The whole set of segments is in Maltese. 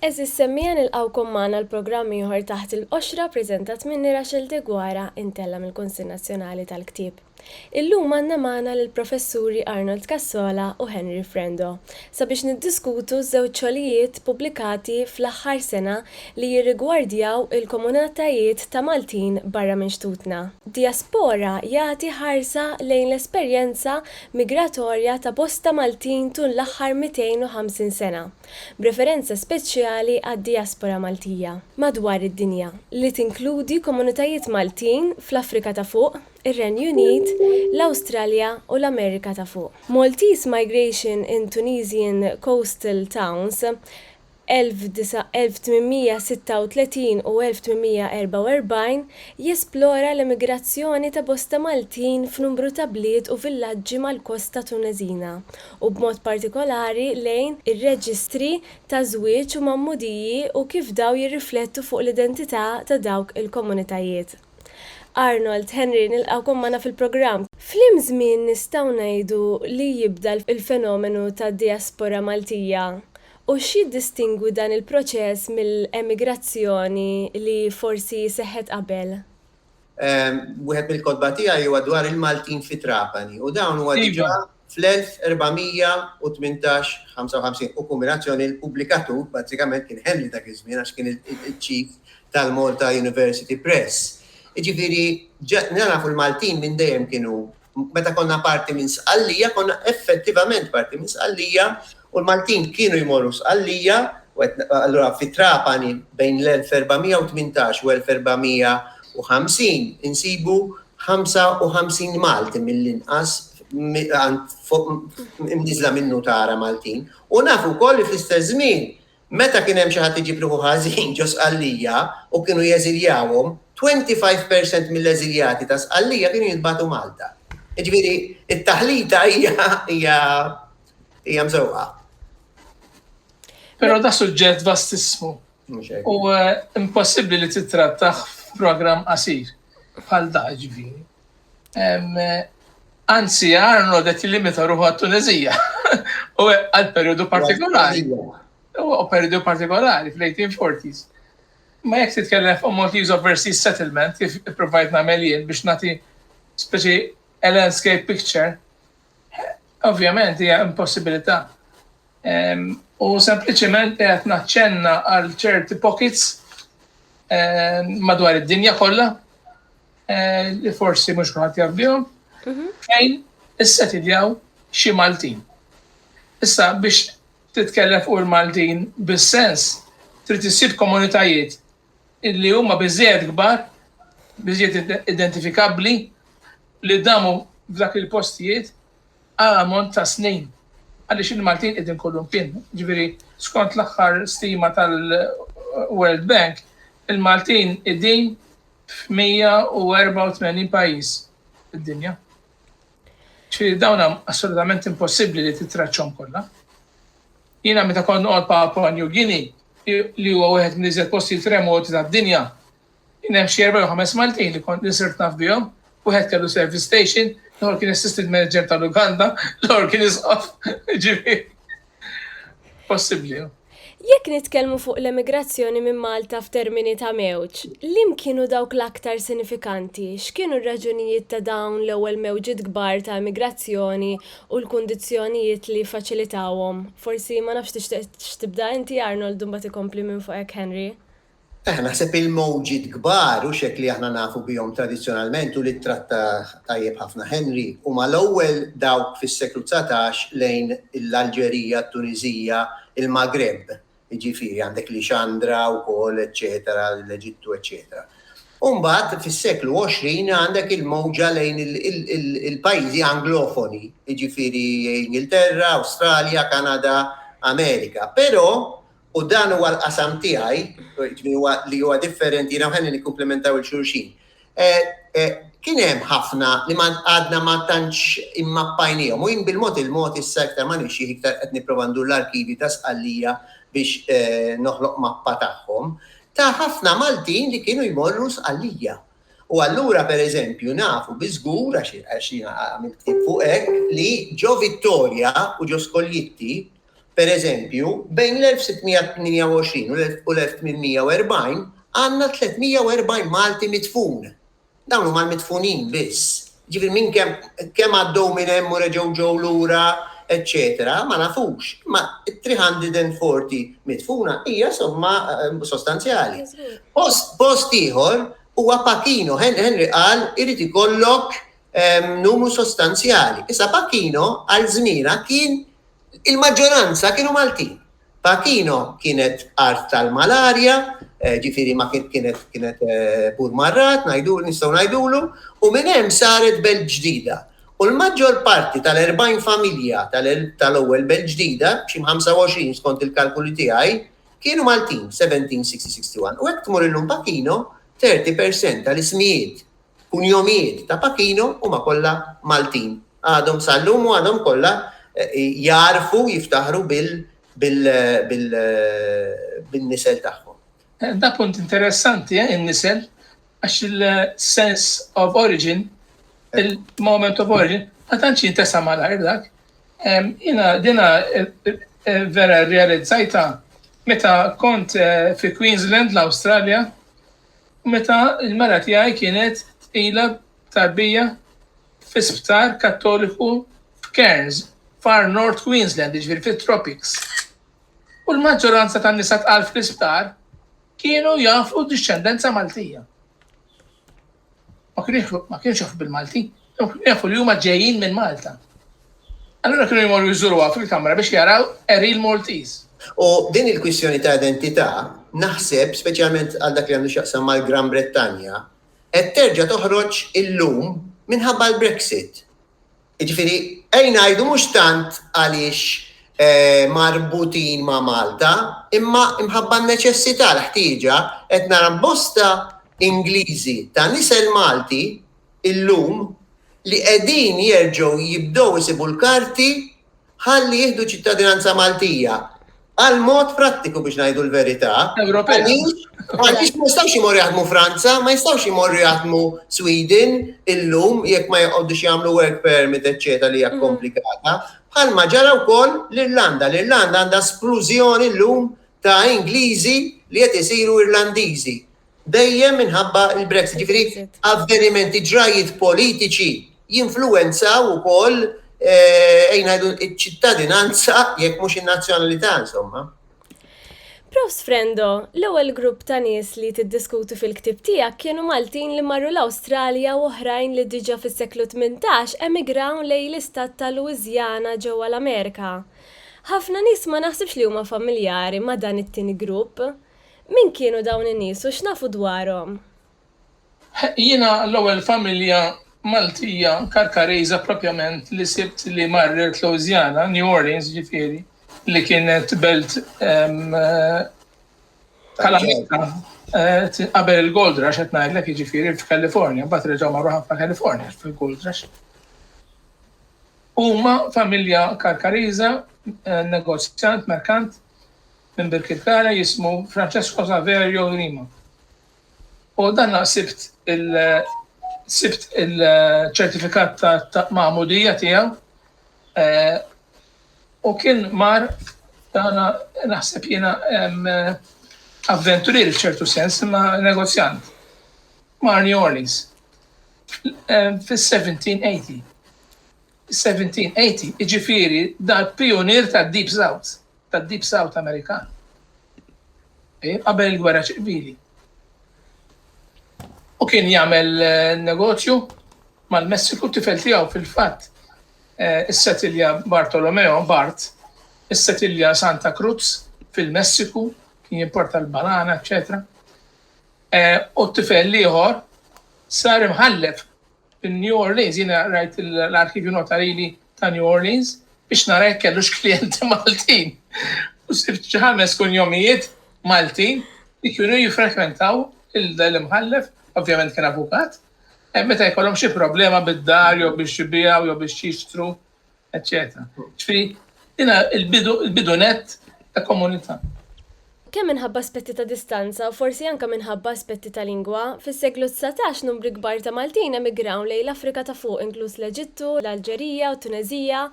Għeżież semmiegħa nilqgħukom magħna għal programm ieħor taħt il-qoxra preżentat minni Rachel Degwara intella mill-Kunsill Nazzjonali tal-Ktieb. Illum għandna magħna lill-Professuri Arnold Cassola u Henry Frendo sabiex niddiskutu ż-żewġ xogħlijiet pubblikati fl-aħħar sena li jirrigwardjaw il-komunatajiet ta' Maltin barra minn xtutna. Diaspora jagħti ħarsa lejn l-esperjenza migratorja ta' bosta Maltin tul l-aħħar 250 sena, b'referenza speċjali għad-diaspora Maltija madwar id-dinja, li tinkludi komunitajiet Maltin fl-Afrika ta' Fuq, ir-Renju Unit, l-Awstralja u l-Amerika ta' Fuq. Maltese Migration in Tunisian Coastal Towns, 1836 u 1844, jesplora l-emigrazzjoni ta' bosta Maltin f'numru ta' bliet u villaġġi mal-kosta Tuneżina, u b'mod partikolari lejn ir-reġistri ta' żwieġ u magħmudiji u kif dawn jirriflettu fuq l-identità ta' dawk il-komunitajiet. Arnold, Henry, nilqgħukom magħna fil-programm. F'liem żmien nistgħu ngħidu li jibda l-fenomenu tad-dijaspora Maltija, u x'jiddistingwi dan il-proċess mill-emigrazzjoni li forsi seħħet qabel? Wieħed mill-kotba tiegħi huwa dwar il-Maltin fi Trapani, u dawn huwa diġà Fl-1418, 55 u kombinazzjoni, il-pubblikatur bażikament kien Henry dak iż-żmien għax kien il-chief tal-Malta University Press. Jiġifieri nafu l-Maltin minn dejjem kienu meta konna parti minn Sqallija, konna effettivament parti minn Sqallija u l-Maltin kienu jmorru Sqallija u qed allura fi Trapani bejn l-1418 u 1450 insibu 55 Malti mill-inqas imniżżla minn nutara Maltin u naf ukoll li fl-istess żmien meta kien hemm xi ħadd iġib ruħu ħażin ġo Sqallija u kienu jeżiljawhom, 25 per cent mill-eżiljati ta' Sqallija kienu jintbagħtu Malta. Jiġifieri t-taħlita hija hija hija mżewqa. Però da suġġett vastissmu. U eh, impossibbli li titrattaħ f'programm qasir bħal da ġifieri. Eh, anzi, Arno det limita ruħu għat-Tunezija u għal periodu partikolari. U periodu partikolari fl-1840s. Ma jek titkellem fuq Maltese Overseas Settlement kif provajt nagħmel jien biex nagħti speċi a landscape picture Ovvjament hija impossibilità. Ehm, u sempliċement qed naċċenna għal ċerti pockets ehm, madwar id-dinja kollha eh, li forsi mhux kulħadd jaf bihom mhm. fejn issetidjaw xi Maltin. Issa biex titkellem fuq il-Maltin bis-sens trid issib komunitajiet li huma biżżejjed kbar, biżżejjed identifikabbli li damu f'dak il-postijiet għal ammont ta' snin. Għaliex il-Maltin qegħdin kolumpin. Ġifieri, skont l-aħħar stima tal-World Bank, il-Maltin qegħdin f'184 pajjiż fid-dinja. Ġifieri dawn assolutament impossibbli li titraċċhom kollha. Jiena meta kont noqgħod Papua New Guinea, li huwa wieħed mill-iżjed postijiet remoti tad-dinja, kien hemm xi erba' jew ħames Maltin li kont li sirt naf bihom. Wieħed kellu service station, l-ieħor kien assistant manager tal-lukanda, l-ieħor kien isqof, ġifieri possibbli. Jekk nitkellmu fuq l-emigrazzjoni minn Malta f'termini ta' mewġ, liem kienu dawk l-aktar sinifikanti? X'kienu r-raġunijiet ta' dawn l-ewwel mewġiet kbar ta' emigrazzjoni u l-kundizzjonijiet li jiffaċilitawhom. Forsi, ma nafx, tixtieqx tibda inti, Arnold, u mbagħad ikompli minn fuq hekk Henry? Aha, naħseb il-mowġiet kbar, hux hekk li aħna nafu bihom tradizzjonalment u li ttrattah tajjeb ħafna Henry, huma l-ewwel dawk fis-seklu dsatax lejn l-Alġerija, t-Tuniżija, il-Maghreb, Jiġifieri għandek Lixandra wkoll eċċetera, l-Eġittu eċċetera. U mbagħad fis-seklu 20 għandek il-mowġa lejn il-pajjiżi anglofoni, jiġifieri Ingilterra, Awstralja, Kanada, Amerika. Però, u dan huwa l-qasam tiegħi, jiġifieri huwa li huwa differenti, jiena u Henry nikkumplimentaw 'il xulxin. Kien hemm ħafna li għadna ma tantx immappajniehom u jien bil-mod il-mod issa iktar ma nimxi iktar qed nipprova ndur l-arkivji ta' Sqallija biex noħloq mappa tagħhom, ta' ħafna Maltin li kienu jmorru Sqallija. U allura pereżempju nafu bi żgur, għax jiena għamilt ktieb fuq hekk, li ġo Vittoria u ġo Skoljitti, Pereżempju, bejn l-1628 u l-1840 għandna 340 Malti midfun. Dawn huma l-midfunin biss. Jiġifieri minn kemm kemm għaddew minn hemm u reġgħu ġew lura, eċċetera, ma nafux. Imma 340 midfuna hija somma sostanzjali. Post ieħor huwa Pacchino, Henry qal irid ikollok numru sostanzjali. Issa Pacchino għal żmienha kien Il-maġġoranza kienu Maltin. Pachino kienet art tal-malarja, ġifieri ma kienet kienet bur marrat, ngħidu nistgħu ngħidulu, u minn hemm saret belt ġdida. U l-maġġor parti tal-40 familja tal-ewwel belt ġdida, xi 25 skont il-kalkoli tiegħi, kienu Maltin f'1760, 61. U hekk tmur illum Pachino, 30 percent tal-ismijiet U l-jomijieet ta' Pacino huma kollha Maltin. Għadhom sal-lum u għadhom kollha jagħrfu jiftaħru bin-nisel tagħhom. Da punt interessanti, eh, in-nisel, għax il-sens of origin, il-moment of origin, ma tantx jintesa' malajr dak. Jiena dina vera rrealizzajtha meta kont fi Queensland, l-Awstralja, meta l-mara tiegħi kienet tqila b'tarbija fi sptar Kattoliku f'Cairns, Far North Queensland, jiġifieri fit-tropics. U l-maġġoranza tan-nisa tqal fl-isptar kienu jafu dixxendenza Maltija. Ma kienu jafu, ma kienux jafu bil-Malti, kienu jafu li huma ġejjin minn Malta. Allura kienu jmorru jżuruha fil-kamra biex jaraw a real Maltese. U din il-kwistjoni ta' identità, naħseb, speċjalment għal dak li għandu x'jaqsam mal-Gran Brittanja, qed terġa' toħroġ illum minħabba l-Brexit. Jiġifieri, ejn ngħidu mhux tant għaliex marbutin ma' Malta, imma imħabba n-neċessità, l-ħtieġa, qed nara bosta Ingliżi ta' nisel Malti illum li qegħdin jerġgħu jibdew isibu l-karti ħalli jieħdu ċittadinanza Maltija għal mod prattiku biex ngħidu l-verità. Ewropea. Għaliex ma jistgħux imorru jaħdmu Franza, ma jistgħux imorru jaħdmu Sweden illum jekk ma jqogħdux jagħmlu work permit eċċetera li hija mm. komplikata. Bħalma ġara wkoll l-Irlanda. L-Irlanda għandha splużjoni llum ta' Ingliżi li qed isiru Irlandiżi. Dejjem minħabba l-Brexit. Jiġifieri avvenimenti, ġrajjiet politiċi jinfluwenzaw ukoll ejn ngħidu ċ-ċittadinanza jekk mhux in-nazzjonalità insomma. Prost Frendo, l-ewwel grupp ta' nies li tiddiskutu fil-ktieb tiegħek kienu Maltin li marru l-Awstralja u oħrajn li diġà fis-seklu tmintax emigraw lejn l-istat ta' Louisiana ġewwa l-Amerika. Ħafna nies ma naħsibx li huma familjari ma' dan it-tieni grupp. Min kienu dawn in-nies u x'nafu dwarhom? Ħeqq jiena l-ewwel familja Maltija Karkarejża propjament li sibt li marret Louisiana, New Orleans jiġifieri, li kienet belt tal-Amerika qabel il-Gold Rush qed ngħidlek jiġifieri f'California, mbagħad reġgħu marru ħafna California fil-Gold Rush. Huma familja Karkarejża, negozjant, merkant, minn Birkirkara jismu Francesco Saverio Grima. U dan sibt il sibt il-ċertifikat ta' magħmudija tiegħu eh, u kien mar dana naħseb jiena avventurier f'ċertu sens imma negozjant. Mar New Orleans fis-1780. 1780, jiġifieri dal-pijunier tad-Deep South, tad-Deep South Amerikan, eh, qabel il-Gwerra Ċivili. U kien jagħmel eh, negozju mal-Messiku tifel tiegħu fil-fatt eh, is-setilja Bartolomeo Bart, is-setilja Santa Cruz fil-Messiku, kien jimporta l-banana, eccetera. Eh, u t-tifel liħor sar imħallef Minn New Orleans, jiena qrajt l-arkivju notarili ta' New Orleans biex nara jekk kellux klijenti Maltin u sibt xi ħames kunjomijiet Maltin li kienu jiffrekwentaw l-Imħallef, ovvjament kien avukat, meta jkollhom xi problema bid-dar jew biex ibiegħu jew biex jixtru eċċetera. Ġifieri jiena l-bidu l-bidu nett ta' komunità. Kemm minħabba aspetti ta' distanza u forsi anke minħabba aspetti ta' lingwa, fis-seklu dsatax numri kbar ta' Maltin emigraw lejn l-Afrika ta' Fuq inkluż l-Eġittu, l-Alġerija u t-Tuneżija.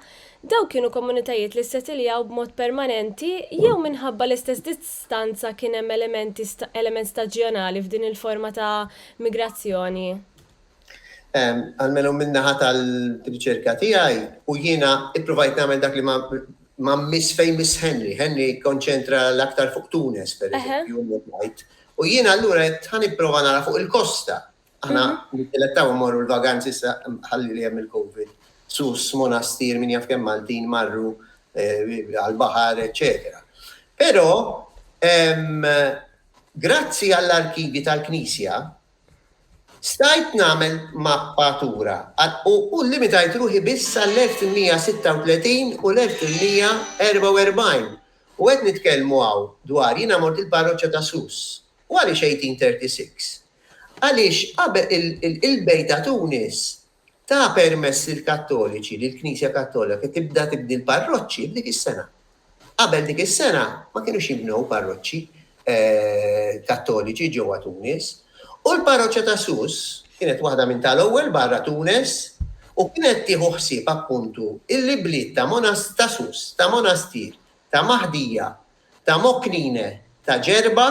Dawk kienu komunitajiet li ssetiljaw b'mod permanenti jew minħabba l-istess distanza kien hemm elementi element staġjonali f'din il-forma ta' migrazzjoni? Almenu min-naħa tal-riċerka tiegħi, u jiena ippruvajt nagħmel dak li ma miss fejn miss Henry. Henry kkonċentra l-aktar fuq Tunes, per eżempju, u jiena allura qed ħa nipprova nara fuq il-kosta. Aħna nittilettaw immorru l-vaganzi sa ħalli li hemm il-COVID. Sus, Monastir, min jaf kemm Maltin marru għall-baħar, eċċetera. Però grazzi għall-arkivji tal-Knisja, Stajt nagħmel mappatura u llimitajt ruħi biss għall-1836 u l-1844, u qed nitkellmu hawn dwar jiena mort il-parroċċa ta' Sus. U għaliex 1836? Għaliex qabel il-bejt ta' Tunis Ta permess lill-Kattoliċi li l-Knisja Kattolika tibda tibni l-parroċċi f'dik is-sena. Qabel dik is-sena ma kinux jinbnew parroċċi Kattoliċi ġewwa Tunis, u l-parroċċa ta' Sousse kienet waħda minn tal-ewwel barra Tunes u kienet tieħu ħsieb appuntu l-ibliet ta' Sousse, ta' Monastir, ta' Mahdija, Damokline ta' ġerba,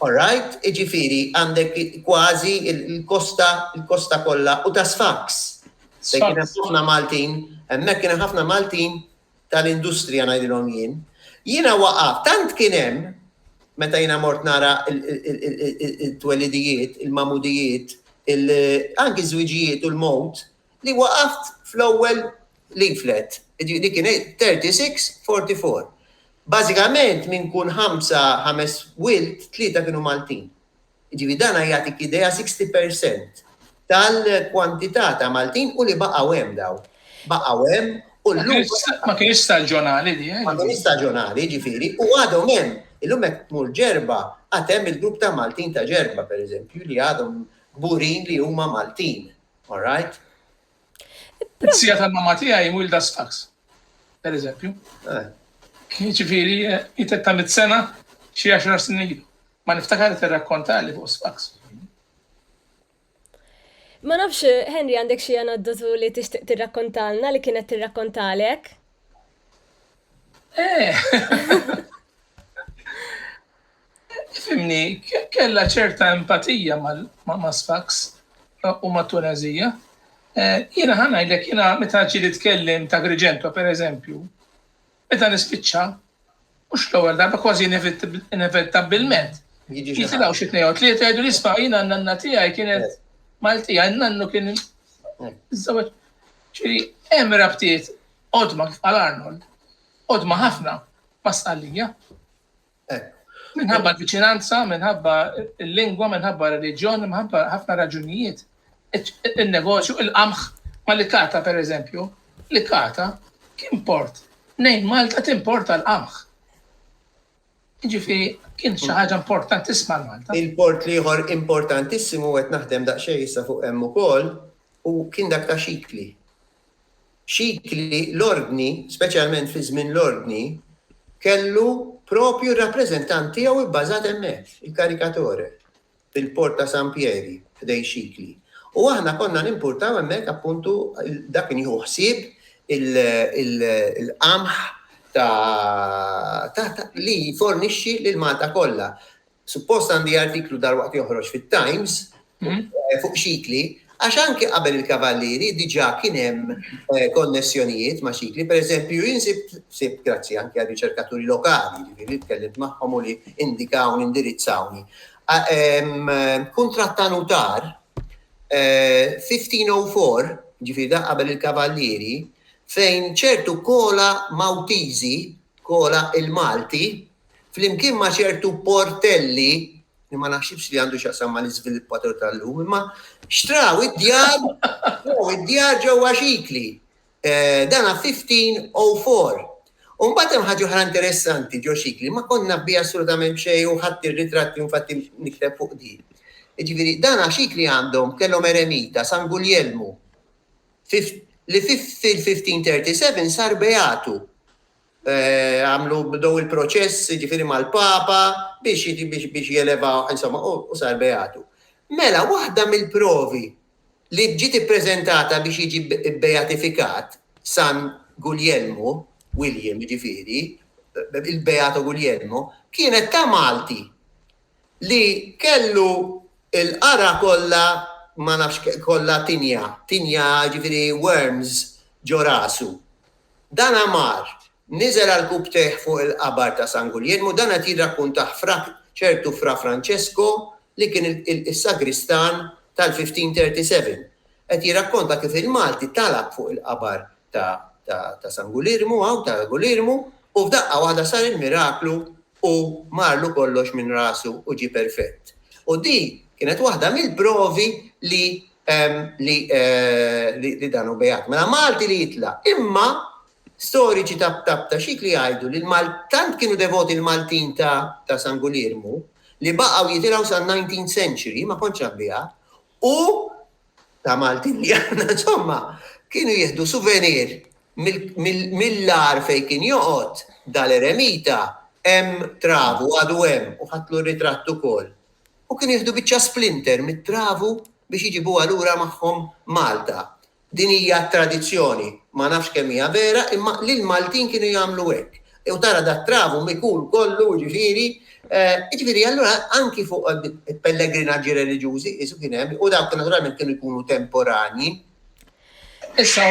alright, jiġifieri għandek kważi l-kosta l-kosta kollha u ta' Sfax. Fejn kien hemm ħafna Maltin, hemmhekk kien hemm ħafna Maltin tal-industrija ngħidilhom jien. Jiena waqaft, tant kien hemm, meta jiena mort nara t-twelidijiet, il-magħmudijiet, anki ż-żwiġijiet u l-mewt, li waqaft fl-ewwel leaflet, jiġifieri dik kien 36, 44. Bażikament minn kull ħamsa, ħames wild, tlieta kienu Maltin. Jiġifieri dan jagħtik idea 60 per cent tal-kwantità ta' Maltin u li baqgħu hemm dawn. Baqgħu hemm u llum. Ma kienx staġjonali di, eh? Ma kienx staġjonali, jiġifieri, u għadhom hemm. Illum hekk tmur ġerba, għad hemm il-grupp ta' Maltin ta' ġerba, pereżempju, li għadhom burin li huma Maltin. All right. Sija tal-mamma tiegħi wilda Sfax, per eżempju. Eh. Ġifieri jitet ta' mit-sena xi għaxar snin ilu. Ma niftakar tirrakkonta li fuq Sfax. Ma nafx, Henry, għandek xi aneddotu li tixtieq tirrakkontalna li kienet tirrakkontalek? Eh. Tifhimni, kellha ċerta empatija ma' Sfax u mat-Tuneżija. Jiena ħa ngħidlek, jiena meta ġieli tkellim t'Agrigento per eżempju, meta nispiċċa, mhux l-ewwel darba, kważi inevitabbilment, jitilgħu xi tnejn jew tlieta jgħiduli isma' jiena n-nanna tiegħi kienet Maltija, n-nannu kien iżżewweġ. Ġifieri hemm rabtiet qodma kif qal Arnold, qodma ħafna ma' Sqallija. Minħabba l-viċinanza, minħabba l-lingwa, minħabba r-reliġjon, minħabba ħafna raġunijiet, il-negozju, il-qamħ ma li kata per eżempju, li kata kien port, nejn Malta timporta l-qamħ. Ġifiri, kien xi ħaġa importantissima Malta. Il-port liħor importantissimu qed naħdem daqsxejn issa fuq hemm ukoll u kien dak ta' xikli. Xikli, l-Ordni, speċjalment fi żmien l-Ordni, kellu proprju r-rappreżentant tiegħu bbażat hemmhekk, il-caricatore, fil-port ta' San Pieri, ħdejn Xikli. U aħna konna nimpurtaw hemmhekk, appuntu, dak kien jieħu ħsieb il-qamħ ta' li jfornixxi lil Malta kollha. Suppost għandi artiklu dalwaqt joħroġ fit-Times fuq xikli, għax anke qabel il-Kavallieri diġà kien hemm konnessjonijiet ma' xikli, pereżempju jien sibt grazzi anke għal riċerkaturi lokali, jiġifieri li tkellimt magħhom u li indikawni, indirizzawni. Kuntratt ta' nutar 1504, jiġifieri dak qabel il-Kavallieri, fejn ċertu kola Maltiżi, kola il-Malti, flimkien ma' ċertu portelli, li ma naħsibx li għandu x'jaqsam ma' l-iżviluppatur tal-lum, imma xtraw id-djar, xtraw id-djar ġewwa xikli. Eh, dan 1504. U mbagħad hemm ħaġa oħra interessanti ġo xikli, ma konna bi assolutament xejn u ħadd ir-ritratti infatti nikteb fuq din. Ġifieri, dan xikli għandhom kellhom eremita San Guljelmu li fil-1537 sar beatu. Għamlu, bdew il-proċess, jiġifieri mal-Papa, biex biex jelevawh, insomma, u u sar beatu. Mela, waħda mill-provi li ġiet ippreżentata biex jiġi bbeatifikat San Guljelmu, William jiġifieri, il-Beato Guglielmo, kienet ta' Malti li kellu l-qara kollha ma nafx kollha tinja, tinja jiġifieri worms ġo rasu. Dan għamar, niżel għall-kubtejh fuq il-qabar ta' San Guglielmo, dan qed jirrakkuntah Fra, ċertu Fra Francesco li kien is-sagristan tal-1537. Qed jirrakkonta kif il-Malti talab fuq il-qabar ta' San Gulirmu hawn, ta' Gulirmu, u f'daqqa waħda sar il-miraklu u marlu kollox minn rasu u ġie perfett. U din kienet waħda mill-provi li li dan hu beat. Mela Malti li jitlaq. Imma storiċi ta' ta' xikli jgħidu li l-Mal tant kienu devoti l-Maltin ta' ta' San Guliermu li baqgħu jitilgħu sal-19th century, ma kontx naf biha, u ta' Maltin li aħna insomma kienu jieħdu suvenir mill-agħar fejn kien joqgħod dal-eremita hemm travu għadu hemm u ħadtlu ritratt ukoll. U kienu jieħdu biċċa splinter mit-travu biex iġibuha lura magħhom Malta. Din hija tradizzjoni, ma nafx kemm hija vera imma l-Maltin kienu jagħmlu hekk. U tara dat-travum ikun kollu, jiġifieri, jiġifieri allura anki fuq il-pellegrinaġġi reliġjużi qisu kien hemm, u dawk naturalment kienu jkunu temporanji. Issa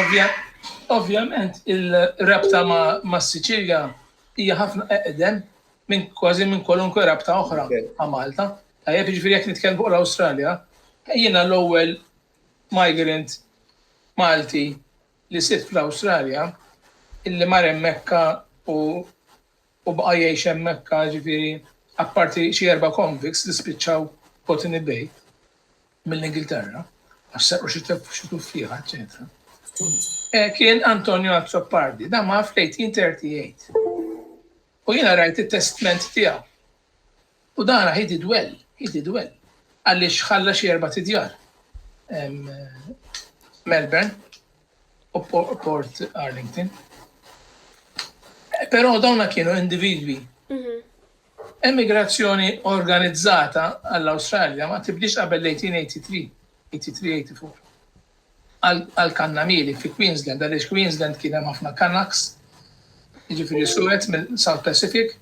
ovvjament ir-rabta mas-Siċilja hija ħafna eqdem minn kważi minn kwalunkwe rabta oħra ma' Malta. Tajjeb, jiġifieri jekk nitkellmu fuq l-Awstralja, jiena l-ewwel migrant Malti li sibt fl-Awstralja, illi mar hemmhekka u u baqa' jgħix hemmhekka, ġifieri apparti xi erba' convicts li spiċċaw Botany Bay mill-Ingilterra għax serqu xi tef- xi tuffieħa, eċċetera. Eh, Kien Antonio Azzopardi, da ma fl-1838. U jiena rajt it-testment tiegħu. U dan ra he did well, he did well. Għaliex ħalla xi erbat idjar. Melbourne u Port Arlington. Però dawna kienu individwi. Mhm. Emigrazzjoni organizzata għall-Awstralja ma tibdix qabel l-1883, 83-84. Għal-kannamili fi Queensland, għaliex Queensland kien hemm ħafna Canucks, jiġifieri suwed mill-South Pacific,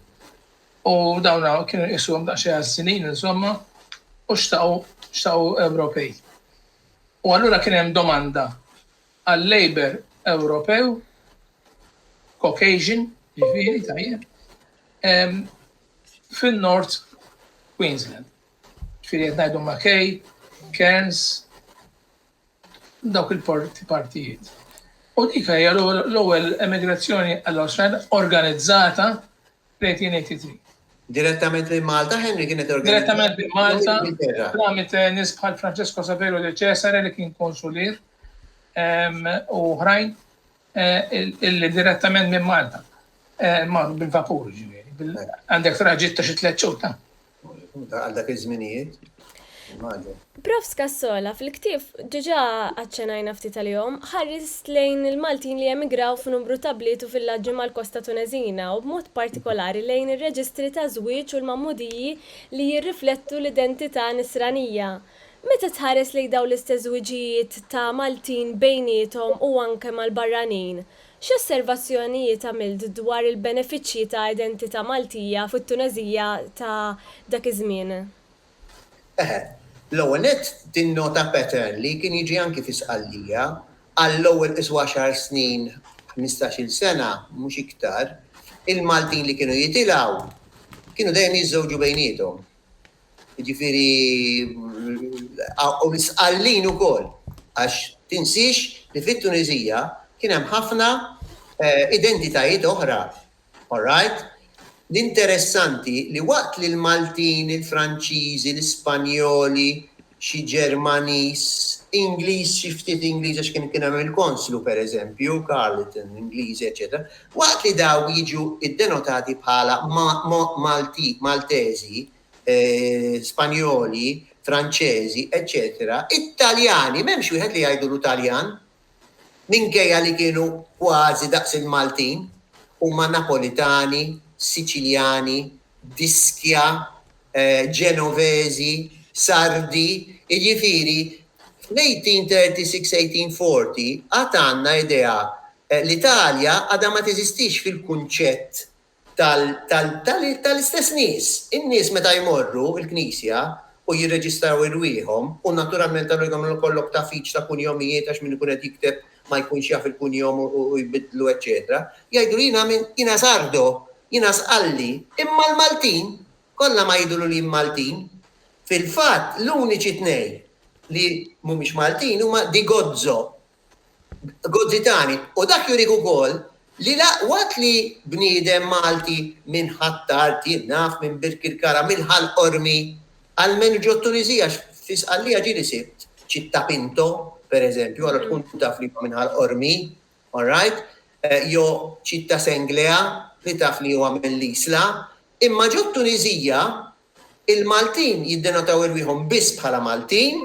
U dawn hawn kienu jqisuhom daqsxejn għas-sinin, insomma, u xtaqu xtaqu Ewropej. U allura kien hemm domanda għal Labour Ewropew, Caucasian, ġifieri tajjeb, fin-North Queensland. Ġifieri qed ngħidu Mackay, Cairns, dawk il-partijiet. U dik hija l-ewwel emigrazzjoni għall-Awstralja organizzata fl-1883. Direttament minn Malta, Henry kienet organizzata. Direttament minn Malta, tramit eh, nies bħal Francesco Saverio de Cesare li kien konsulir ehm, u ħrajn Illi direttament minn Malta. Mar bil-vapur ġifieri. Għandek traġitt ta' xi tliet xhur ta'. Għal dak iż-żminijiet. Prof. Scassola, fil-ktieb, diġà aċċenajna ftit għalihom, ħarist lejn il-Maltin li emigraw f'numru ta' bliet u villaġġi mal-kosta Tuneżina u b'mod partikolari lejn ir-reġistri ta' żwieġ u l-magħmudiji li jirriflettu l-identità Nisranija. Meta tħares lejn dawn l-istess żwiġijiet ta' Maltin bejniethom u anke mal-barranin, x'osservazzjonijiet għamilt dwar il-benefiċċji ta' identità Maltija fit-Tuneżija ta' dak iż-żmien? Eħe. L-ewwel nett, tinnota pattern li kien jiġi anki fi Sqallija, għall-ewwel qis għaxar snin, ħmistax-il sena, mhux iktar, il-Maltin li kienu jitilgħu kienu dejjem jiżżewġu bejniethom. Jiġifieri u msqallin ukoll għax tinsiex li fit-Tuniżija kien hemm ħafna identitajiet oħra. All right? L-interessanti li waqt li l-Maltin, il-Franċiżi, l-Ispanjoli, xi Ġermaniż, Ingliż, xi ftit Ingliż għax kien kien hemm il-konslu pereżempju, Carleton, Ingliżi, eċċetera, waqt li dawn jiġu ddenotati bħala Malteżi, Spanjoli, Franċeżi, eċċetera, it-Taljani m'hemmx wieħed li jgħidulu Taljan, Minkejja li kienu kważi daqs il-Maltin, huma Napolitani, Siċiljani, d'Ischia, Ġenoveżi, Sardi, jiġifieri fl-1836, 1840 għad għandna idea li l-Italja għadha ma teżistix fil-kunċett tal-istess nies. In-nies meta jmorru l-knisja u jirreġistraw irwieħhom, u naturalment allura jkollhom ikollok tagħfix ta' kunjomijiet għax min ikun qed jikteb ma jkunx jaf il-kunjom u jbiddlu eċċetera, jgħidu li jiena minn, jiena sardo, jiena sqalli, imma l-Maltin kollha ma jidhru li Maltin. Fil-fatt l-uniċi tnejn li mhumiex Maltin huma Di Gozzo Gozzitani, u dak jurih ukoll li la waqt li bniedem Malti minn Ħ'Attar, jien naf, minn Birkirkara, minn Ħal Qormi, almenu ġo t-Tuniżija għax fi Sqallija ġieli sibt Città Pinto, per eżempju, allura tkun taf li huwa minn Ħal Qormi, all right, jew Città Senglea li taf li huwa mill-Isla, imma ġo t-Tuniżija Il-Maltin jiddenotaw irwieħhom biss bħala Maltin,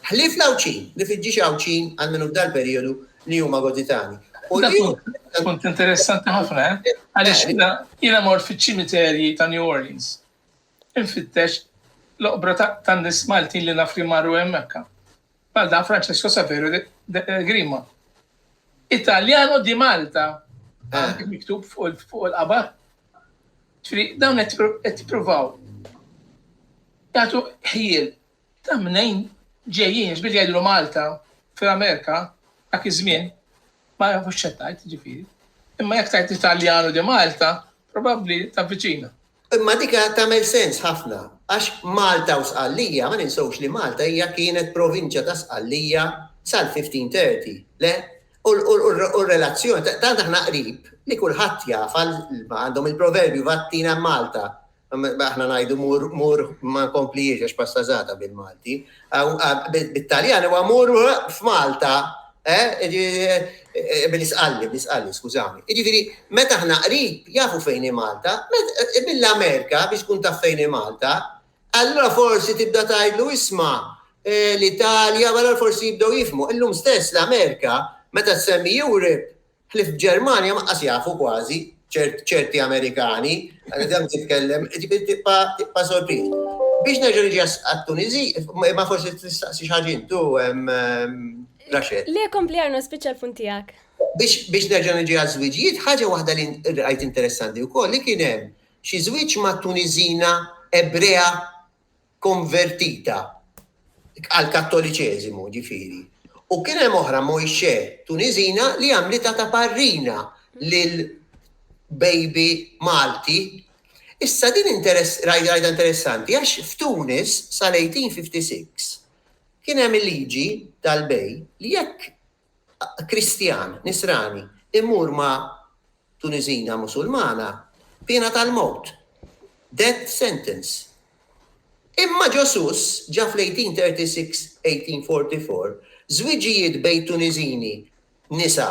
ħlief l-Għawdxin, li fil-ġiex Għawdxin għal min hu f'dan il-perijodu li huma Goditani. U li hu. Punt interessanti ħafna, eh? Għaliex jiena jiena mort fiċ-ċimiterji ta' New Orleans. Infittex l-oqbra ta' nies Maltin li naf li marru hemm Mekka. bħal dan Francesco Saverio de Grima. Italjano di Malta, eh. miktub fuq il-qabar. Dawn qed provaw. Jagħtu ħjiel ta' mnejn ġejjin, ġbir jgħidlu Malta fil-Amerika dak iż-żmien ma jafux xettajt ġifieri. Imma jekk tajt Italjano di Malta, probabbli ta' viċina. Imma dik tagħmel sens ħafna għax Malta u Sqallija, ma ninsewx li Malta hija kienet provinċja ta' Sqallija sal-1530, le? U r-relazzjoni, tant aħna qrib li kulħadd jaf għal għandhom il-proverbju vattina Malta, aħna ngħidu mur mur ma nkomplihiex għax passazata bil-Malti, Bit-Taljan huwa mur f'Malta, bil-isqalli, bil-isqalli, skużawni. Jiġifieri, meta aħna qrib, jafu fejn hi Malta, mill-Amerika biex tkun taf fejn hi Malta, allura forsi tibda tgħidlu isma' l-Italja, allura forsi jibdew jifhmu. Illum stess l-Amerika, meta ssemmi Europe, Ħlief Ġermanja ma qas jafu kważi ċerti Amerikani, dan titkellem, ġifieri tibqa' tibqa' sorpriż. Biex nerġa' niġi għat-Tuniżi, imma forsi tistaqsi xi ħaġa intu, Rachel. Le, kompli Arno, spiċċa l-punt tiegħek. Biex biex nerġa' niġi għaż-żwiġijiet, ħaġa waħda li rajt interessanti wkoll li kien hemm xi żwieġ ma' Tuniżina Ebrea, konvertita għall-Kattoliċeżimu, ġifieri, u kien hemm oħra Moixé Tuniżina li għamlitha ta' parrina lil baby Malti. Issa din interess, rajda interessanti, għax f'Tunis sal-1856 kien hemm il-liġi tal-bej li jekk Kristjan, Nisrani, imur ma' Tuniżina Musulmana, piena tal-mewt, death sentence. Imma ġo Sousse ġa fl-1836, 1844, żwiġijiet bejn Tuniżini, nisa,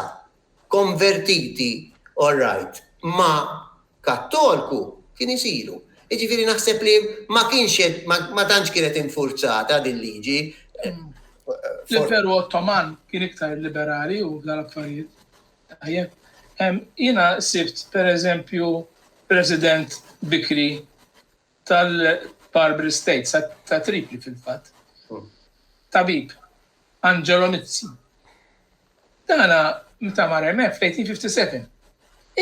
konvertiti, all right, ma' Kattolku kien isilu. Jiġifieri naħseb li ma kienx qed ma tantx kienet infurzata din liġi. L-Imperu Ottoman kien iktar liberali u dal-affarijiet. Tajjeb. Jiena sibt pereżempju President bikri tal-Barbary States, ta' Tripli fil-fatt, tabib, Angelo Mizzi. Dana meta mar hemmhekk fl-1857,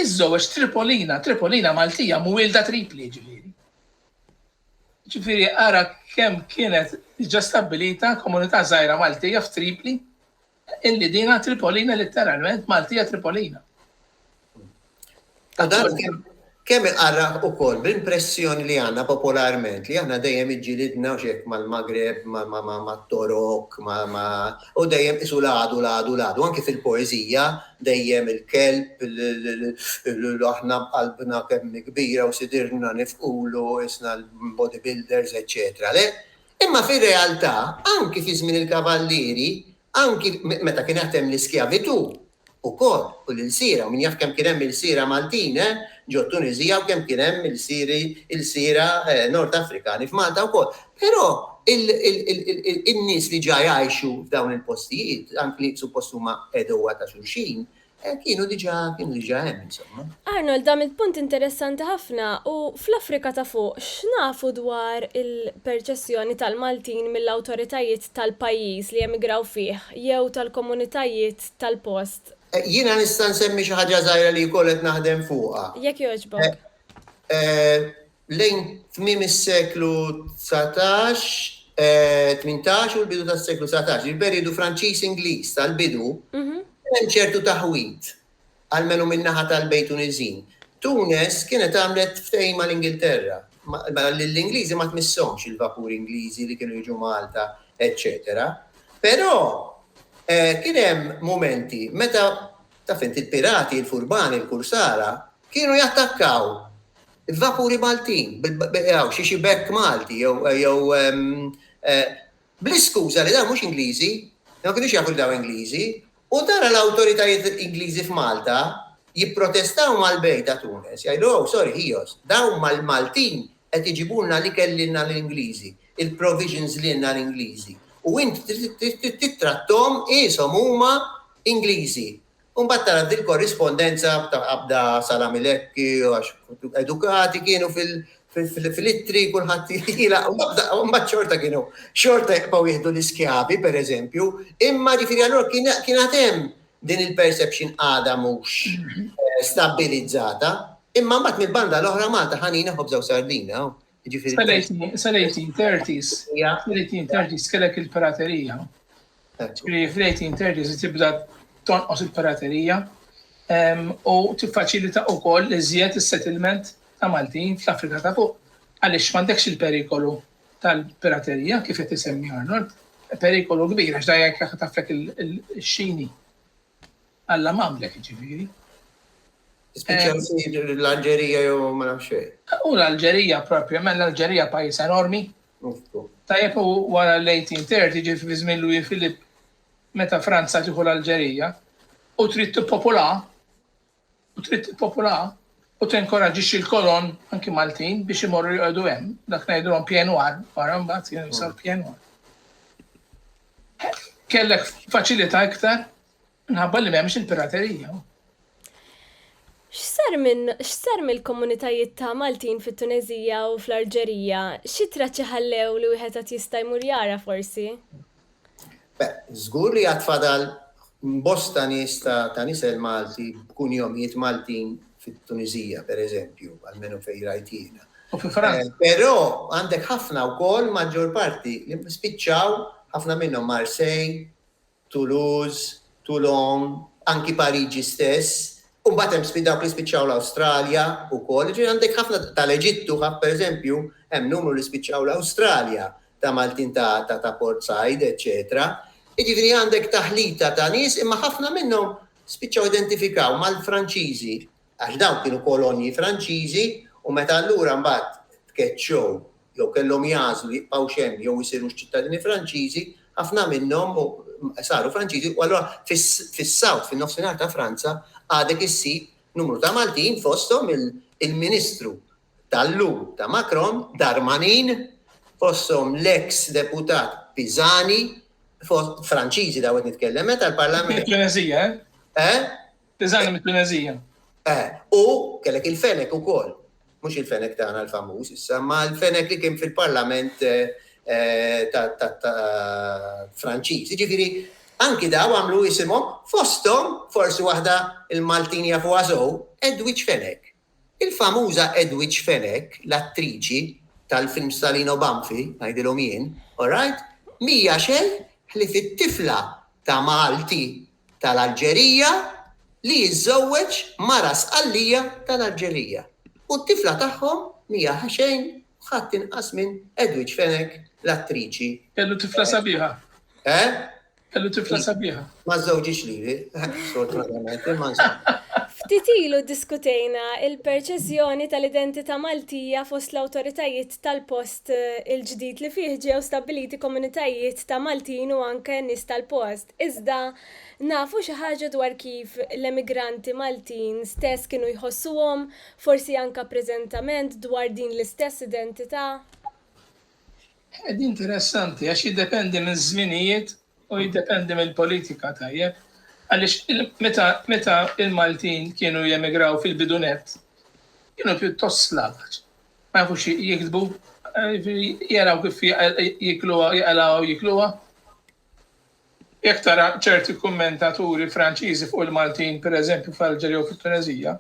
iżżewweġ Tripolina, Tripolina Maltija mwielda Tripli ġifieri. Ġifieri ara kemm kienet diġà stabbilita komunità żgħira Maltija f'Tripli Il-Ledina Tripolina litteralment Maltija Tripolina. U dan kemm iqarraq ukoll bl-impressjoni li għandna popolarment li aħna dejjem iġġilidna u x'hekk mal-Maghreb, mat-Torok, u dejjem qisu l-għadu, l-għadu, l-għadu. Anki fil-poeżija dejjem il-kelb, aħna b'qalbna kemm hi kbira u sidirna nifqulu, qisna l-bodybuilders, eċċetera. Le, Imma fir-realtà, anki fi żmien il-kavallieri, anki meta kienet hemm l-iskjavitù ukoll, u l-ilsiera, u min jaf kemm kien hemm ilsiera Maltin, eh, ġo t-Tuniżija u kemm kien hemm ilsieri, ilsiera Nord Afrikani f'Malta wkoll. Però il, il, il, il, in-nies li ġa jgħixu f'dawn il-postijiet, anki li suppost huma għeduwa ta' xulxin, Kienu diġà, kienu diġà hemm insomma. Arnold, għamilt punt interessanti ħafna u fl-Afrika ta' Fuq x'nafu dwar il-perċessjoni tal-Maltin mill-awtoritajiet tal-pajjiż li emigraw fih jew tal-komunitajiet tal-post? Jiena nista' nsemmi xi ħaġa żgħira li wkoll qed naħdem fuqha. Jekk jogħġbok. Lejn tmiem is-seklu dsatax, tmintax u l-bidu tas-seklu dsatax, il-perijodu Franċiż-Ingliż tal-bidu, kien hemm ċertu taħwid, almenu min-naħa tal-Bejt Tuniżin. Tunes kienet għamlet ftehim mal-Ingilterra, ma lill-Ingliżi ma tmisshomx il-vapuri Ingliżi li kienu jiġu Malta, eċċetera. Però kien hemm mumenti meta, taf int, il-pirati, il-furbani, il-kursara, kienu jattakkaw Vapuri Maltin, jew xi xi bekk Malti, jew bl-iskuża li dawn mhux Ingliżi, ma kinux jafu li dawn Ingliżi, u tara l-awtoritajiet Ingliżi f'Malta jipprotestaw mal-bejgħ ta' Tunes, jgħidu, oh, sorry, ħios, dawn mal-Maltin qed iġibulna l-ikel lilna l-Ingliżi, il-provisions lilna l-Ingliżi, u int trid tittrattahom qishom huma Ingliżi. U mbagħad tara dil-korrispondenza ta' qabda salami lekki għax edukati kienu fil-ittri kulħadd jilaq u mbagħad xorta kienu xorta jaqbgħu jieħdu l-iskjavi pereżempju, imma ġifieri allura kien għad hemm din il-perception għadha mhux stabbilizzata, imma mbagħad mill-banda l-oħra Malta ħanina ħobża u sardina, jiġifieri. Sal-1830s, sal-1830s kellek il-piraterija. Ġifieri fl-18 terġa' tibda tonqos il-piraterija u tiffaċilita wkoll iżjed is-settlement ta' Maltin fl-Afrika ta' Fuq għaliex m'għandekx il-perikolu tal-piraterija kif qed isemmi Arnold. Perikolu kbir għax dan jekk jaħtaflek ix-Xini. Alla m'għamlek jiġifieri. Spiċċa jsir l-Alġerija jew ma nafx xejn. U l-Alġerija propjament, l-Alġerija pajjiż enormi. Tajjeb u wara l-1830 ġifi fi żmien Louis Philippe meta Franza tieħu l-Alġerija u trid tippopolha u trid tippopolaha u tinkoraġġixxi l-kolon anki Maltin biex imorru joqogħdu hemm, dak ngħidulhom pjenwar, wara mbagħad kienu jsar pjenwar. Kellek faċilità iktar minħabba li m'hemmx il-piraterija. X'sar minn x'sar mill-komunitajiet ta' Maltin fit-Tunezija u fl-Arġerija? Xi traċċi ħallew li wieħed qed jista' jmur jara forsi? Żgur li għad fadal bosta nies ta' nisel Malti b'kunjomijiet Maltin fit-Tuniżija, per eżempju, almenu fejn rajt jiena. U fi Franza. Però għandek ħafna wkoll, maġġor parti, li spiċċaw, ħafna minnhom Marseille, Toulouse, Toulon, anki Pariġi stess, u mbagħad hemm spiċ, dawk li spiċċaw l-Awstralja wkoll. Jiġifieri għandek ħafna, tal-Eġittu, per eżempju, hemm numru li spiċċaw l-Awstralja, ta' Maltin ta' Port Said, eċċetera. Jiġifieri għandek taħlita ta' nies imma ħafna minnhom spiċċaw identifikaw mal-Franċiżi għax dawn kienu kolonji Franċiżi u meta allura mbagħad tkeċċew jew kellhom jagħżlu jibqgħux hemm jew isirux ċittadini Franċiżi, ħafna minnhom saru Franċiżi u allura fis-South, fin-Nofsinhar ta' Franza, għadek issib numru ta' Maltin fosthom il-Ministru tal-lum ta' Macron, Darmanin, fosthom l-eks deputat Pisani, Franċiżi daw qed nitkellem, eh, tal-Parlament. Mit-Tunezija, eh? Eh? Pisani mit-Tunezija. Eh, u kellek il-fenek ukoll. Mhux il-fenek tagħna l-famuż issa, ma l-fenek li kien fil-Parlament eh, Eh, ta' Franċiż. Ġifiri, anki daw għamlu jisimhom fosthom forsi waħda il-Maltin jafu għażow Edwidge Fenek. Il-famuża Edwidge Fenech, l-attriċi tal-films ta' Lino Banfi, ngħidilhom jien, alright, m'hija xejn ħlief it-tifla ta' Malti tal-Alġerija li jiżżewweġ mara Sqallija tal-Alġerija. U t-tifla tagħhom m'hija ħaxejn u ħadd inqas minn Edwidge Fenech, l-attriċi. Kellu tifla sabiħa. Eh? Kellu tifla sabiħa. Ma żżewġiex lili, sfortunatament, imma insomma. Ftit ilu ddiskutejna l-perċeżjoni tal-identità Maltija fost l-awtoritajiet tal-post il-ġdid li fih ġew stabbiliti komunitajiet ta' Maltin u anke nies tal-post. Iżda nafu xi ħaġa dwar kif l-emigranti Maltin stess kienu jħossuhom, forsi anke preżentament, dwar din l-istess identità? Ħed interessanti għax jiddependi miż-żminijiet u jiddependi mill-politika tajjeb għaliex meta meta l-Maltin kienu jemigraw fil-bidu nett kienu pjuttost slavaġ. Ma jafux jiktbu, jiġifieri jaraw kif jikluha, jaqalgħuha u jikluha. Jekk tara ċerti kummentaturi Franċiżi fuq il-Maltin, pereżempju fl-Alġerija u fit-Tuneżija,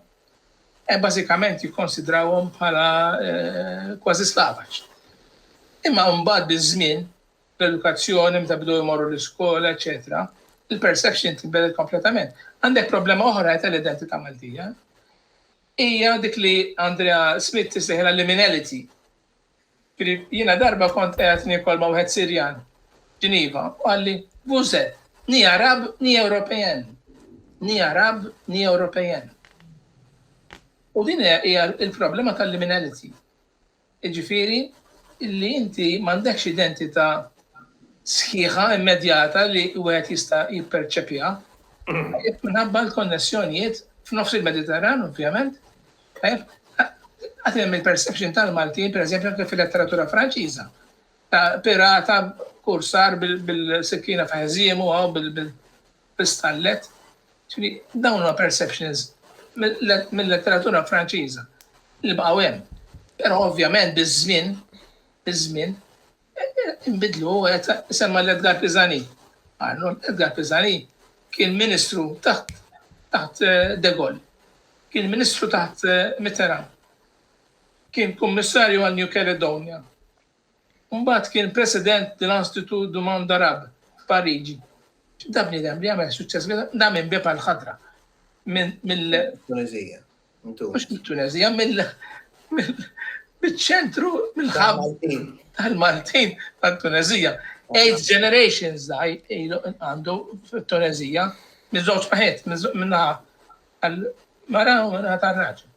eh, bażikament jikkonsidrawhom bħala eh, kważi slavaċ. Imma mbagħad biż-żmien, l-edukazzjoni meta bdew imorru l-iskola, eċetera, il-perception tinbidel kompletament. Għandek problema oħra ta' l-identità Maltija. Hija dik li Andrea Smith tisliħilha liminality. Jiena darba kont qegħed niekol ma' wieħed Sirjan f'Ġiniva u qalli, Vous êtes ni Arabes ni Européens. Ni Arabes ni Européens. U din hija l-problema tal-liminality. Jiġifieri li inti m'għandekx identità sħiħa immedjata li wieħed jista' jipperċepiha. Minħabba l-konnessjonijiet f'nofs il-Mediterran, ovvjament, Tajjeb? Għad hemm il-perception tal-Maltin, pereżempju anke fil-letteratura Franċiża, ta' pirata kursar bil-sikkina ta' ħżiemu hawn bil-stallet. Dawn huma perceptions mill-letteratura Franċiża li baqgħu hemm. Però ovvjament biż-żmien, biż-żmien, Inbidlu, u qed isemma' lil Edgar Pisani. Arnold, Edgar Pisani kien ministru taħt taħt De Gaulle. Kien ministru taħt Mitterrand. Kien kummissarju għal New Caledonia. Mbagħad kien president dell-Institut du Monde Arabe f'Pariġi. Da bniedem li għamel suċċess, da minn bieb għall-ħadra. Minn mill Tunizija. Mhux mit-Tunezija, mill-ċentru, mill-ħab tal-Maltin tal-Tunezija. Eight generations da għandu fit-Tunezija, miż-żewġ paħet, minna għal-mara u minna tal-raġel.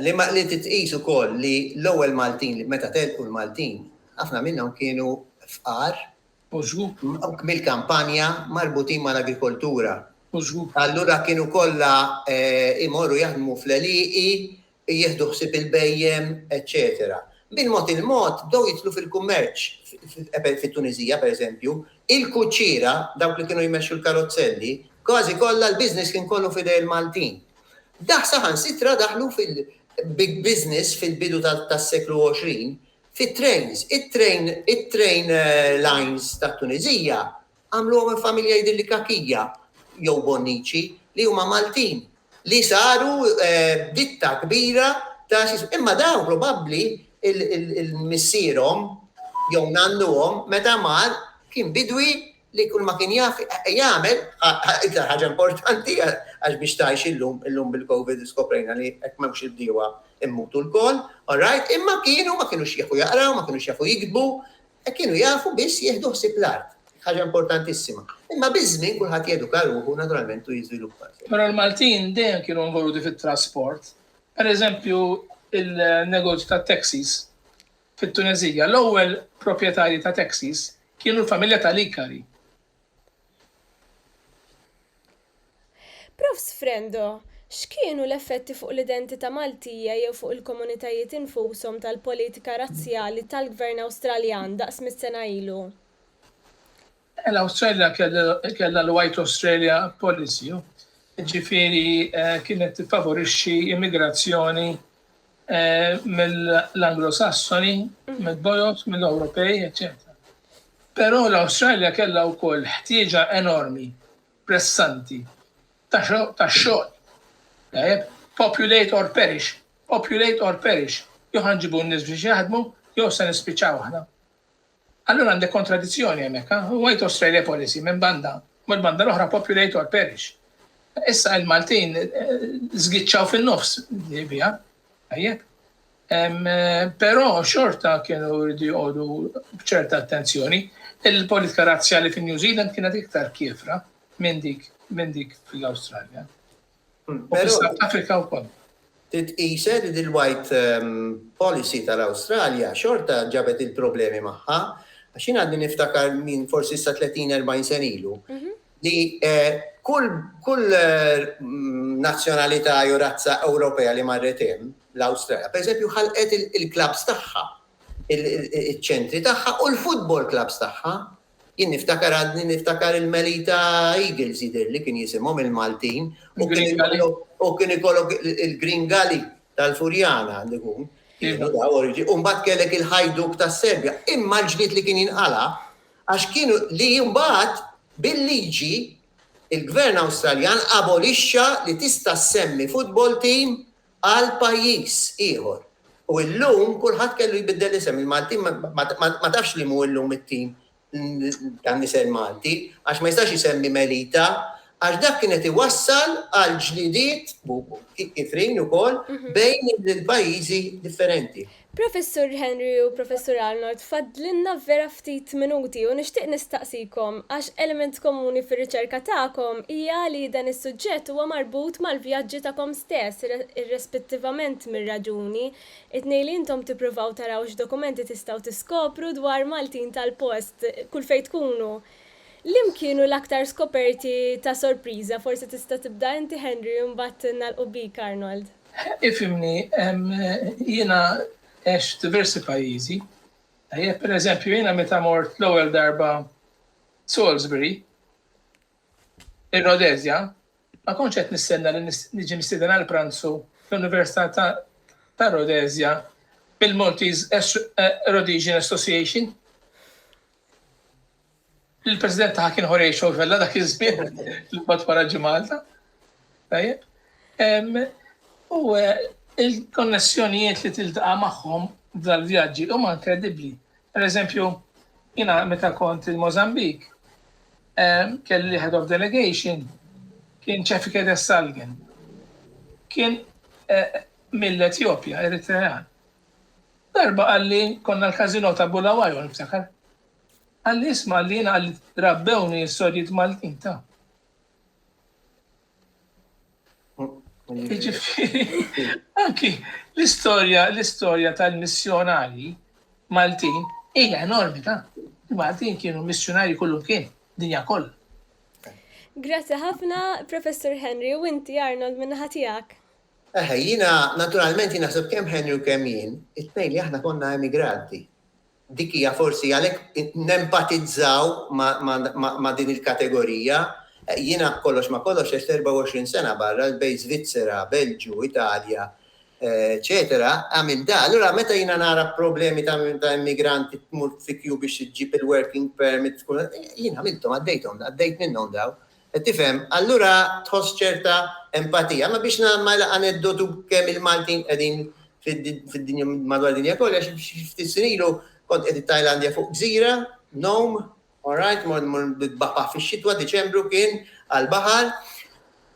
Li ma li titqis ukoll li l-ewwel Maltin li meta telqu l-Maltin, ħafna minnhom kienu fqar u żgħup. mill-kampanja marbutin mal-agrikoltura. U żgħup. Allura kienu kollha jmorru jaħdmu fl-għelieqi, jieħdu ħsieb il-bhejjem, eċċetera. Bil-mod il-mod bdew jidħlu fil-kummerċ fit-Tuniżija, pereżempju, il-kuċċiera, dawk li kienu jmexxu l-karozzelli, kważi kollha l-business kien kollu f'idejn il-Maltin. Daħ saħansitra daħlu fil, big business fil-bidu tas-seklu 20, Fit-trejns, it-trejn, it-train lines tat-Tuniżija għamluhom minn familja jidhirli Kakija jew Bonnici li huma Maltin li saru ditta kbira ta' x'ismu. Imma dawn probabbli il-missierhom jew nannuhom meta mar kien bidwi Li kull ma kien jaf jagħmel, iktar ħaġa importanti għax biex tgħix illum, illum bil-Covid skoprejna li jekk m'hemmx il-bdiewa immutu lkoll, alright, imma kienu ma kinux jafu jaqraw, ma kinux jafu jiktbu, kienu jafu biss jieħdu ħsieb l-art, ħaġa importantissima. Imma biż-żmien kulħadd jeduka ruħu naturalment u jiżviluppa. Però l-Maltin dejjem kienu involuti fit-trasport. Pereżempju, il-negozju tat-taxis. Fit-Tuneżija, l-ewwel proprjetarji ta' taxis kienu l-familja ta' Likari. Prof. Sfrendo, x'kienu l-effetti fuq l-identità Maltija jew fuq il-komunitajiet infushom tal-politika razzjali tal-Gvern Awstraljan daqs mitt-sena ilu? L-Awstralja kellha l-White Australia Policy, jiġifieri kienet tiffavorixxi immigrazzjoni mill-Anglo-Sassoni, mill-Boers, mill-Ewropej, eċċetera. Però l-Awstralja kellha wkoll ħtieġa enormi, pressanti, ta' xogħol. Tajjeb? Populate or perish. Populate or perish. Jew ħa nġibu n-nies biex jaħdmu jew se nispiċċaw aħna. Allura għandek kontradizzjoni hemmhekk, ha? Huwa jtoss railway policy minn banda, u mill-banda l-oħra populator perish. Issa il-Maltin żgiċċaw fin-nofs li biha, tajjeb? Però xorta kienu jridu joqogħdu b'ċerta attenzjoni. Il-politika razzjali fin-New Zealand kienet iktar kiefra minn dik minn dik fl-Awstralja. Titqised li l-white policy tal-Awstralja xorta ġabet il-problemi magħha għax jien għadni niftakar minn forsi issa 30, 40 sena ilu li kull nazzjonalità jew razza Ewropea li marret hemm l-Awstralja, pereżempju ħalqet il-klabbs tagħha, iċ-ċentri tagħha u l-futbol klabbs tagħha Jien niftakar għadni niftakar il-Melita Eagles jidhirli kien jisimhom il-Maltin u kien ikollok il-Green Gully tal-Furjana għandu jkun. U mbagħad kellek il-ħajduk tas-Serbja. Imma l-ġlied li kien jinqala għax kienu li mbagħad bil-liġi il-Gvern Awstraljan abolixxa li tista' ssemmi football team għal pajjiż ieħor. U llum kulħadd kellu jbiddel isem. Il-Maltin ma tafx li mu llum it-tim tan-nisel Malti, għax ma jistax isemmi Melita, għax dak kien qed iwassal għal ġlidiet, kifrin ukoll, bejn il-pajjiżi differenti. Professur Henry u Professur Arnold fadlilna vera ftit minuti u nixtieq nistaqsikom għax element komuni fir-riċerka tagħkom hija li dan is-suġġett huwa marbut mal-vjaġġi tagħkom stess irrespettivament mir-raġuni, it-tnejn li intom tippruvaw taraw x'dokumenti tistgħu tiskopru dwar Maltin tal-post kull fejn tkunu. Liem kienu l-aktar skoperti ta' sorpriża, forsi tista' tibda inti Henry u mbagħad nagħlqu bik Arnold. Ifhimni, jiena għext f'diversi pajjiżi, tajjeb? Pereżempju, jiena meta mort l-ewwel darba Salisbury, ir-Rodezja, ma kontx qed nistenna li niġi mistieden għal pranzu fl-Università ta' Rodezja mill-Maltese Rhodesian Association. Il-President taha kien Jorge Xofella dak iż-żmien li mbagħad wara ġi Malta. Tajjeb. U eh, il-konnessjonijiet li tiltaqa' magħhom dal-vjaġġi huma inkredibbli. Per eżempju, jina meta kont il-Mozambik, eh, kelli head of delegation, kien ċefike de Salgen. Kien eh, mill-Etjopja, Eritrean. Darba għalli konna l-kazino ta' Bulawajon, ftakar. Għal isma li jina li rabbewni s-sorijiet Maltin ta. Jiġifieri, anki l-istorja, l-istorja tal-missjonari Maltin hija enormi ta'. Maltin kienu missjonari kullu kien, dinja koll. Grazzi ħafna, Professor Henry, u inti Arnold minn ħatijak. Eħe, jina, naturalment jina sab kem Henry u kem jien, it-tnejn li aħna konna emigranti. Dik hija forsi għalhekk nempatizzaw ma' din il-kategorija. Jiena b'kollox ma' kollox għext 24 sena barra, bejn Svizzera, Belġju, Italja, eċċetera, għamilt dan. Allura meta jiena nara problemi ta' immigranti tmur fi queue biex iġġib il-working permit, jien għamilthom, għaddejthom, għaddejt minnhom dawn. Tifhem? Allura tħoss ċerta empatija. Imma biex nagħmel laqgħa aneddotu kemm il-Maltin qegħdin fid-dinja madwar dinja kollha xi ftit snin ilu kont qed it-Tajlandja fuq gżira, Nom, all right, mort mur nitbaħbaħ fix-xitwa, Diċembru kien, għall-baħar,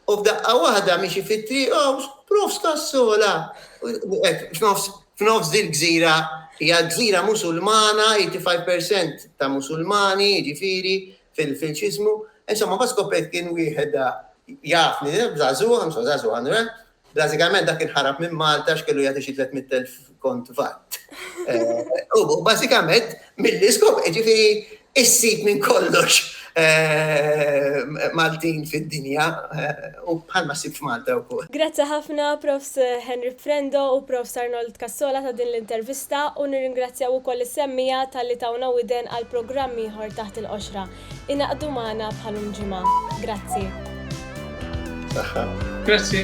u f'daqqa waħda miexi fit-triq, hawn prof Scassola! Hekk f'nofs f'nofs dil-gżira hija gżira Musulmana, 85% ta' Musulmani, jiġifieri fil-filċiżmu. Insomma, ma skoprejt kien wieħed jafni, żagħżugħ, insomma żagħżugħ għandu Bażikament dak kien ħarab minn Malta x'kellu jagħti xi 300,000 kont vatt. U bażikament milli skop, ġifieri issib minn kollox Maltin fid-dinja U bħalma ssib f'Malta wkoll. Grazzi ħafna Profs. Henry Frendo u Profs. Arnold Cassola ta' din l-intervista u nirringrazzjaw ukoll is-semmiegħa talli tawna widen għal programm ieħor Taħt il-Qoxra. Ingħaqdu magħna bħalum ġimgħa. Grazzi. Saħħa. Grazzi.